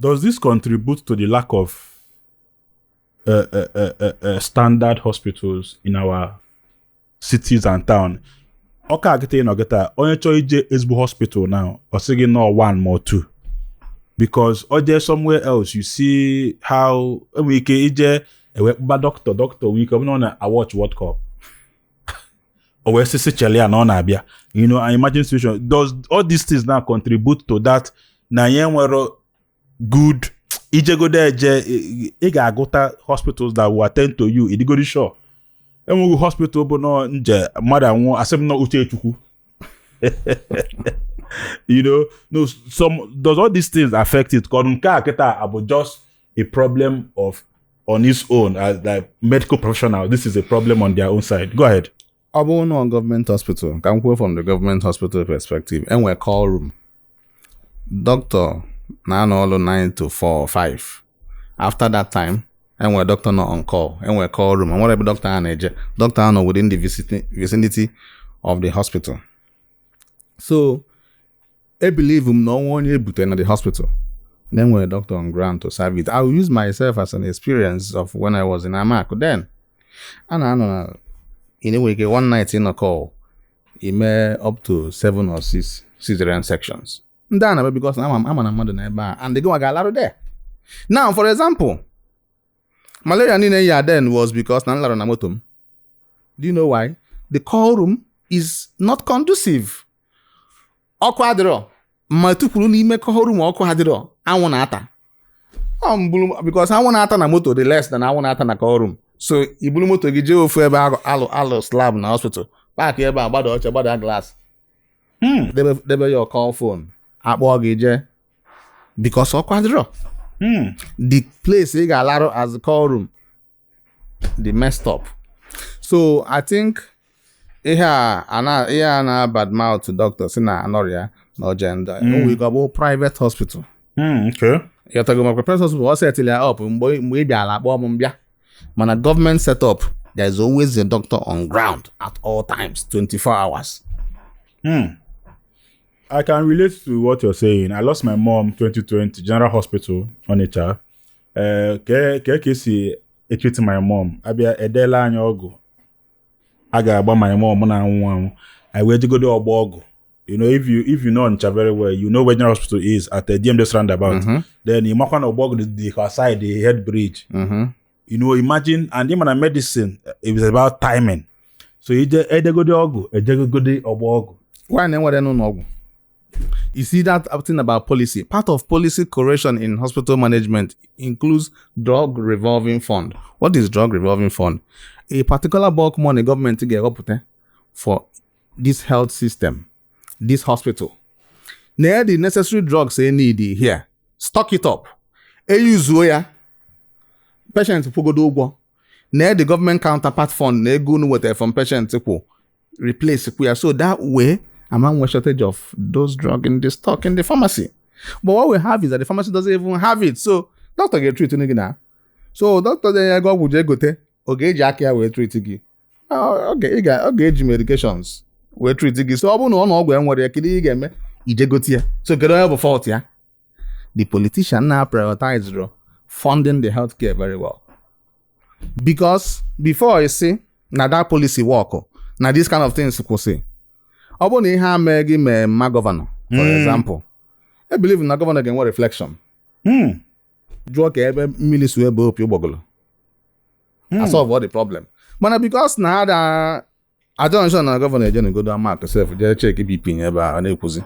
Does this contribute to the lack of uh, uh, uh, uh, uh standard hospitals in our cities and town? Ọka a kịta ị nọ kịta onye chọọ ije ezigbo hospital now ọ sị gị na ọ one ma ọ two because ọ jee somewhere else you see how enwere ike ije e wee kpọba doctor doctor nwee ike ọ bụrụ na ọ na-awatch World Cup o wee sị sị chele ya na ọ na-abịa you know an emergency situation does all these things now contribute to that na anyị enwere good i jegodo eje ị ga-agụta hospitals that will attend to you ị dịgodị sure enweghị hospital bụ na onye jee mmadụ anwụọ a sị m na ọ uche Chukwu you know no some does all these things affect it ka nke a kịta abụ just a problem of on its own as like medical professional this is a problem on their own side go ahead ọ bụrụ na government hospital ka m kwuo from the government hospital perspective enwe call room doctor na-anọ ọrụ 9 to 4 or 5 after that time enwe doctor nọ on call enwe call room enwere ebe doctor a na-eje doctor a nọ within the vicinity of the hospital so I believe m na o nwe onye e bute na the hospital na e nwere doctor on ground to serve it. I will use myself as an experience of when I was in Amaku then. And I know na ị na-enwere ike one night ị nọ call i mee up to seven or six cesarean sections. Ndị a na-ebe because na a ma na mmadụ nọ ebe a and gịnwa ga-alarụ there. Now for example, malaria niine m ya then was because na m larụ na moto m. Do you know why? The call room is not conducive ọkụ adịrọ ma tukwuru n'ime call room ọkụ adịrọ anwụ na-ata ọ mbụrụ because anwụ na-ata na moto dị less than anwụ na-ata na call room so i bulu moto gị jee ofu ebe a lụlụ slab na hospital park ebe a gbada oche gbada glass hmm. debe your call phone a kpọọ gị jee because ọkụ adịrọ hmm. the place ị ga-alarụ as call room dị messed up so i think ihe a a na ihe a na-abad mouth doctor sị na anọrọ ya na ọje ndị o nwe ike ọ bụ private hospital Mm, okay. ị ghọtago maka private hospital ọ set ya up mgbe mgbe ị bịara a kpọọ m m bịa mana government set up there is always a doctor on ground at all times 24 hours Hmm. I can relate to what you're saying. I lost my mom 2020 General Hospital, Onitsha. ee eh, kee ka ka e si etreat my mom a bịa edeela anyị ọgwụ a ga-agba my mom na-anwụ anwụ anyị wee jegodo Ọgbọ Ọgwụ you know if you if you know Onitsha very well you know where general hospital is at the DMGS roundabout mm -hmm. then ị makwa na Ọgbọ Ọgwụ dị other side the head bridge mm -hmm. you know imagine and ị ma na medicine it's about timing so ije edegodi ọgwụ ejegogodi ọgba ọgwụ why na enwere n'ụlọ ọgwụ you see that thing about policy part of policy correction in hospital management includes drug revolving fund what is drug revolving fund a particular bulk money gọọmenti ga-ewepụta for this health system this hospital na the necessary drugs they need here stock it up eyuzuo ya patient kwụgodo ụgwọ na the government counterpart fund na ego unu wetara from patient kwụ replace kwụ ya so that way ama nwe shortage of those drug in the stock in the pharmacy but what we have is that the pharmacy doesn't even have it so doctor ga-etrit gị na so doctor denye gị ọgwụ jee gote ọ ga-eji aka ya wee trit gị ọ ga-eji medications wee trit gị so ọ bụrụ na ọ na ọgwụ enwere ya kedu ị ga-eme ijegote ya so kedu onye bụ fọlt ya the politician na prioritize funding the healthcare very well because before you see na that policy work na this kind of things kwụsị ọ bụrụ na ihe a mee gị mee mama gọvanọ for hmm. example I believe na gọvanọ ga-enwe reflection hmm. jụọ ka ebe mmiri si ba opi ụgbọgụlụ hmm. asolve all the problem but because na ada ajonshon na gọvanọ ejenugodo Amaku sef jee check bp nye ebe a na-ekwuzi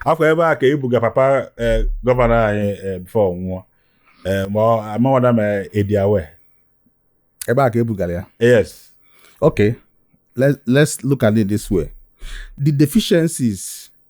afọ ebe a ka ebuga papa eh, gọvanọ anyị eh, bifo ọ nwụọ eh, ma amawada ma ediawe ebe a ka ebugara ya yes okay let's look at it this way the deficiencies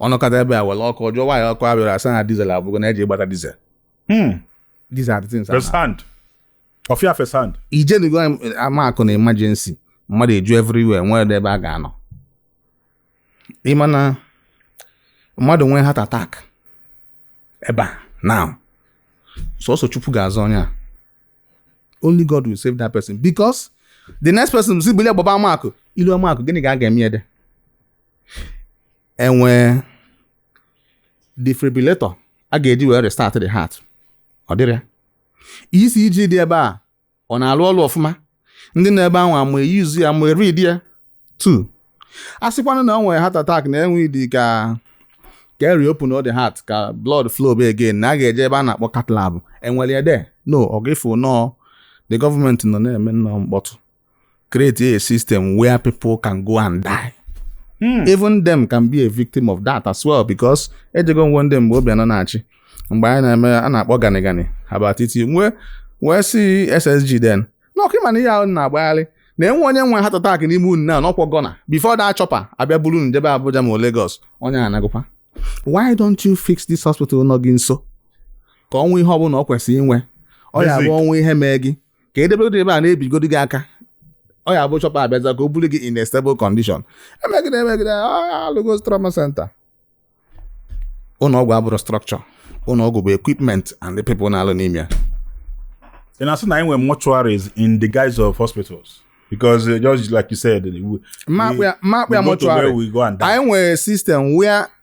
ọ nọkata ebe a were ọkụ jụọ nwaanyị ọkụ abịara asị na dizel agwụgo na eje gbata dizel hmm. these are the things firsthand ọ fụ ya firsthand ijenugo Amaku na emergency mmadụ eju everywhere nwere ebe a ga-anọ ịma na mmadụ nwee heart attack ebe a now sọsọ chukwu ga-azọ onye a only God will save that person because the next person si bilie gbaba Amaku ilu Amaku gịnị ka a ga-eme there enwee defibrillator a ga-eji wee restart the heart ọ dịrị ya ECG dị ebe a ọ na-alụ ọlụ ọfụma ndị nọ ebe ahụ ama eyuzu ya ma eridi ya too a sịkwanụ na ọ nwere heart attack na e need ka e reopen the heart ka blood flow be again na a ga-eje ebe a na-akpọ cath lab enwere ya there no ọ ga-efu nọọ the government nọ na-eme nnọọ mkpọtụ create a system where people can go and die hmm. even them can be a victim of that as well because ejego m one day mgbe Obiano na-achị mgbe anyị na-eme a na-akpọ gani gani about it m wee sị ssg then na ọkwa ịma na ihe ahụ na-agbagharị na enwe onye nwe heart attack n'ime unu na na ọkwa goner before that chopper abịa buru unu jebe Abuja ma Lagos onye a anagokwa why don't you fix this hospital nọ gị nso ka o nwee ihe ọbụla ọ kwesịrị inwe ọ ya bụ o nwee ihe mee gị ka edebegodo ebe a na-ebigodo gị aka ọ ya bụ chọpa abịaza ka o buru gị in a stable condition emegide emegide alụgo trauma center ụlọ ọgwụ abụrọ structure ụlọ ọgwụ bụ equipment and the people na-alụ n'ime ya ị na-asị na anyị nwere mortuaries in the guise of hospitals because uh, just like you said we, mmakpụ ya we go to where mortuary we go and die anyị nwere system where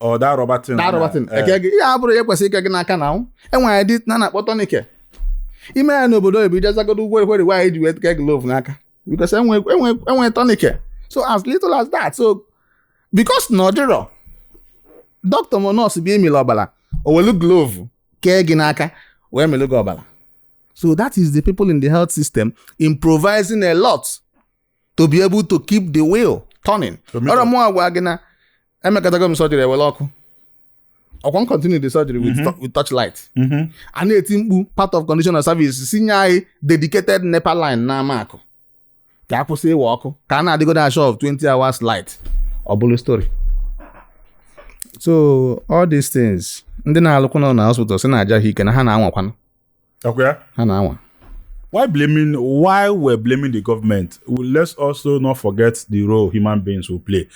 ọ da rọbatin da rọbatin eh. eke gị ihe a bụrụ ya kwesịrị ike gị n'aka na anwụ enwere dị na na-akpọ tourniquet ime ya n'obodo oyibo ijezagodo ugwo ekwere why eji wee ke glove n'aka because enwe tourniquet so as little as that so because na ọ dịrọ doctor ma nurse bịa ịmịlị ọbara o welu glove kee gị n'aka wee mịlụ gị ọbara so that is the people in the health system improvising a lot to be able to keep the wheel turning ọrọ mụ agwa gị na emekatago m surgery ewere ọkụ ọkwa m continue the surgery with, mm -hmm. with torchlight mm -hmm. a na-eti mkpu part of condition of service sị nye anyị dedicated NEPA line na Amaku ka a kwụsị iwe ọkụ ka a na-adịgodo assured of 20 hours light ọ bụrụ story so all these things ndị na-alụkwanụ na hospital si na-aja ha ike na ha na-anwakwanụ ha na-anwa while blaming while we're blaming the government well, let's also not forget the role human beings will play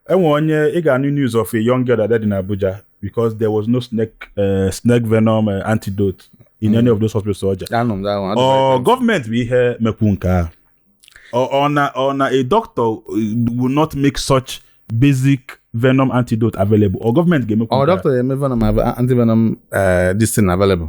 enwe onye ị ga-anụ news of a young girl that died in Abuja because there was no snake uh, snake venom uh, antidote in mm. any of those hospitals ọja ọ government bụ ihe mekwu nke a ọ na ọ na a doctor uh, will not make such basic venom antidote available ọ government ga-emekwu ọ doctor ga-eme venom anti venom uh, this thing available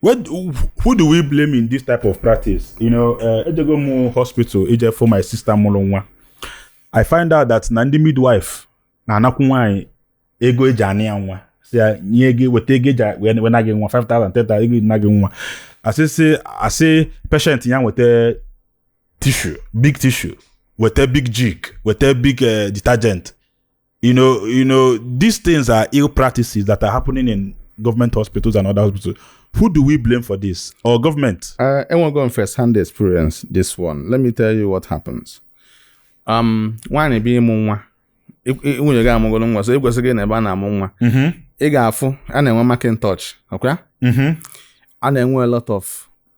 What, who do we blame in this type of practice? You know, uh, ejego m hospital ije fụ my sister mụrụ nwa. I find out that na ndị midwife na-anakwu nwaanyị ego eji ana ya nwa. Sị ya nye gị weta ego eji wee wee na gị nwa 5,000 10,000 ego eji na gị nwa. Asị sị asị patient ya weta tissue big tissue weta big Jik weta big eh, detergent You know, you know, these things are ill practices that are happening in government hospitals and other hospitals. Who do we blame for this? Ọ government? Uh, enwego m first hand experience this one. Let me tell you what happens. Um, nwaanyị bịa ịmụ nwa nwunye gị amụgoro nwa so ekwesịghị na ebe a na-amụ nwa mm-hmm. ị ga-afụ a na-enwe mackintosh ọkwa mm-hmm. a na-enwe a lot of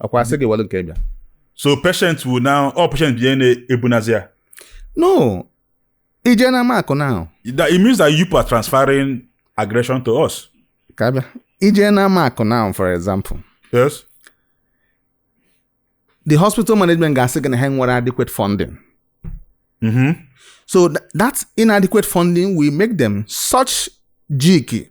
ọkwa asị gị were nke bịa so patient will now all patient bịa na-ebunazi ya no ije na Amaku now that it means that you are transferring aggression to us ka abịa ije na Amaku now for example yes the hospital management ga-asị gị na ha enwerọ adequate funding mm-hmm. so that inadequate funding will make them such Jik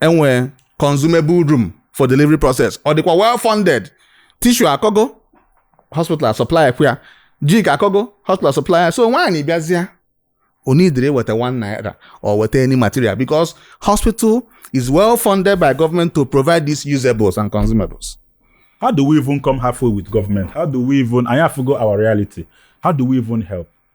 enwe consumable room for delivery process ọ dịkwa well funded tissue akọgo hospital supply kwa jik akọgo hospital supply so nwaanyị bịazịa onidiri weta one naira or weta any material because hospital is well funded by government to provide these usables and consumables. how do we even come halfway with government how do we even anyị afụgo our reality how do we even help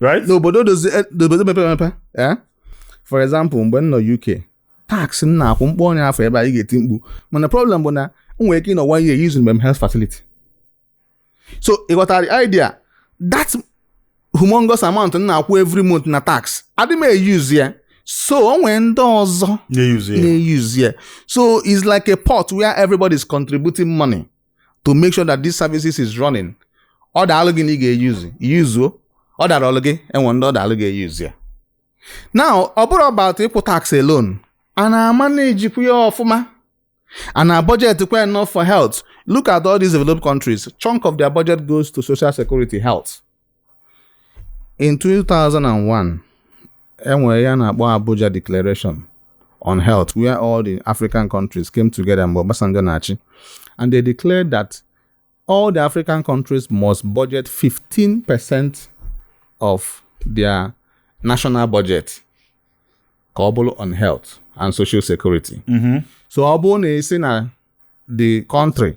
right n'obodo dozi eh, n'obodo mepere emepe eh? for example mgbe m nọ UK tax m na-akwụ m kpọọ ọnụ ya afọ ebe a ị ga-eti mkpu mana problem bụ na m nwere ike ịnọ one year using mem health facility so ị ghọtara the idea that humongous amount m na-akwụ every month na tax adị m e-use ya so o nwere ndị ọzọ na-e-use ya so it's like a pot where everybody is contributing money to make sure that this services is running ọ daalụ gị na ị ga-eyuzu yuzuo ọ darọlụ gị e nwee ndị ọ daalụ ga-eyuzu ya now ọ bụrọ about ịkwụ tax alone a na-amanage kwa ya ọfụma a na budget kwa enough for health look at all these developed countries chunk of their budget goes to social security health In 2001, e nwere ihe a na-akpọ Abuja Declaration on Health, where all the African countries came together mgbe Obasanjo na-achị, and they declared that all the African countries must budget 15% of their national budget ka ọ bụrụ on health and social security. Mm-hmm. So ọ bụrụ na a sị na the country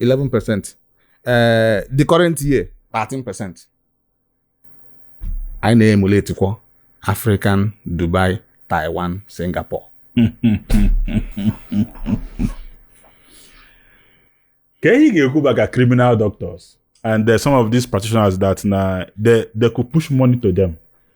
11 percent ee eh, the current year 13 percent anyị na-emuletikwa African Dubai Taiwan Singapore ka ihe ga-ekwu maka criminal doctors and there some of these practitioners that na they, they could push money to them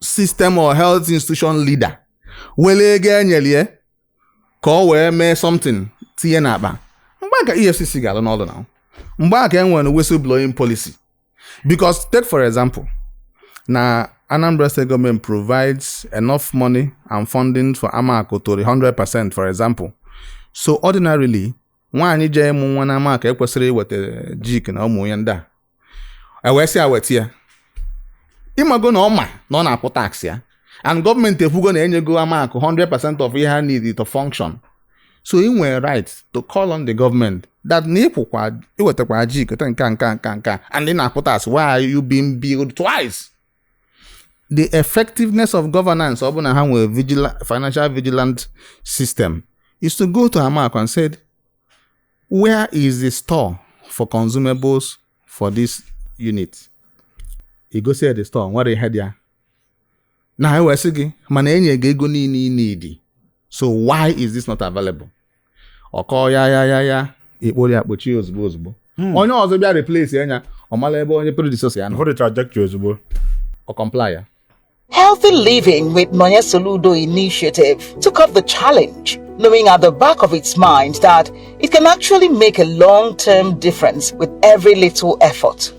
system or health institution leader were ego e nyelu ya ka o wee mee something tinye n'akpa mgbe a ka efcc ga-alụ n'ọlụ na mgbe a ka e nwere whistleblowing policy because take for example na Anambra State government provides enough money and funding for Amaku to the 100% for example so ordinarily nwaanyị jee ịmụ nwa na Amaku ekwesịrọ iweta jik na omo na ihe ndị a e wee sị ya weta ya ị mago na ọ ma na ọ na-akwụ tax ya and government ekwugo na enyego Amaku 100% of ihe ha need to function so i nwere right to call on the government that na ịkwụkwa iwetakwa jik na nke nka nka nka and ị na-akwụ tax why are you being billed twice the effectiveness of governance ọ bụrụ na ha nwere vigila financial vigilant system is to go to Amaku and said where is the store for consumables for this unit i gosi ya the store nwerọ ihe dị ya na ha wee sị gị mana enye gị ego niile ị need so why is this not available ọ kọọ ya ya ya ya a kpọrọ ya kpọchie ozugbo ozugbo hmm. onye ọzọ bịa replace ya ọ mara ebe onye predecessor ya nọ trajectory ozugbo ọ comply ya Healthy living with Nonye Soludo initiative took up the challenge knowing at the back of its mind that it can actually make a long term difference with every little effort.